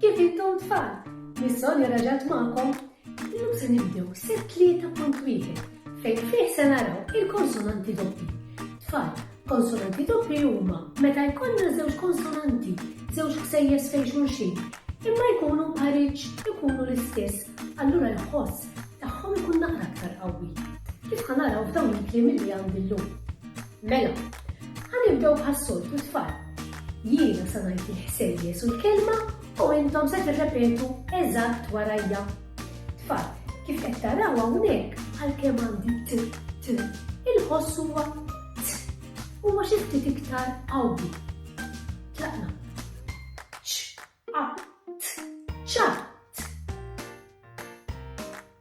Kif intom tfal? Nissolja raġat magħkom. Illum se nibdew set 3.1 fejn fih se naraw il-konsonanti doppi. Tfal, konsonanti doppi huma meta jkollna żewġ konsonanti, żewġ ħsejjes fejn xulxin, imma jkunu paritx ikunu l-istess, allura l-ħoss tagħhom ikun naqra aktar qawwi. Kif ħanaraw f'dawn il-kliem li għandi llum? Mela, ħa nibdew bħas-soltu tfal. Jiena sa ngħid il-ħsejjes u l-kelma u intom se tirrepetu eżatt warajja. Tfal, kif qed taraw hawnhekk għalkemm għandi t t il-ħoss huwa t huwa xi ftit iktar qawwi. Tlaqna. Ċ, a, t, ċa,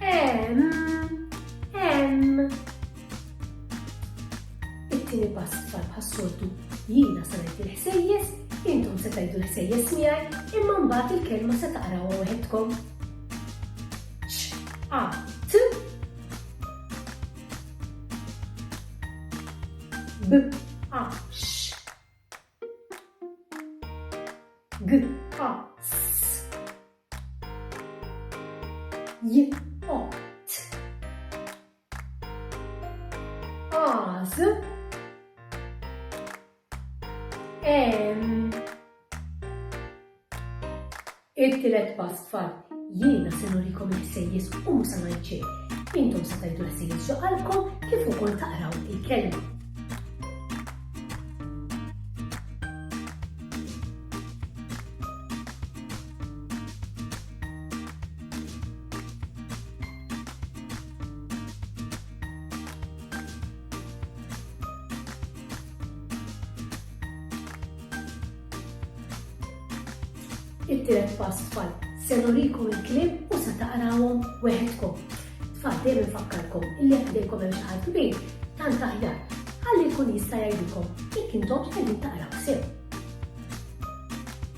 Em, em. It-tieni pass tfal bħas-soltu jiena se ngħid il-ħsejjes, intom se tgħidu l-ħsejjes miegħi, imma mbagħad il-kelma se taqrawha waħedkom. A, T, B, A, X, G, A, S. j o t az em it-tielet pass tfal jiena se nurikom il-ħsejjes u musa ngħid Intom se tgħidu l-ħsejjes ġo qalbkom kif ukoll taqraw il-kelma. it-tielet pass tfal. Se nurikom il-kliem u se taqrawhom weħedkom. Tfal dejjem infakkarkom illi jekk dejkom hemm xi ħadd kbir, tant aħjar. Ħalli jkun jista' jgħidilkom jekk intom qegħdin taqraw sew.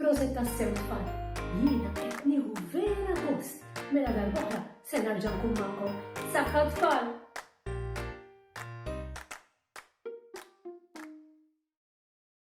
Proset tassew tfal, jiena qed nieħu vera gost. Mela darb'oħra se nerġa' nkun magħkom. Saħħa tfal!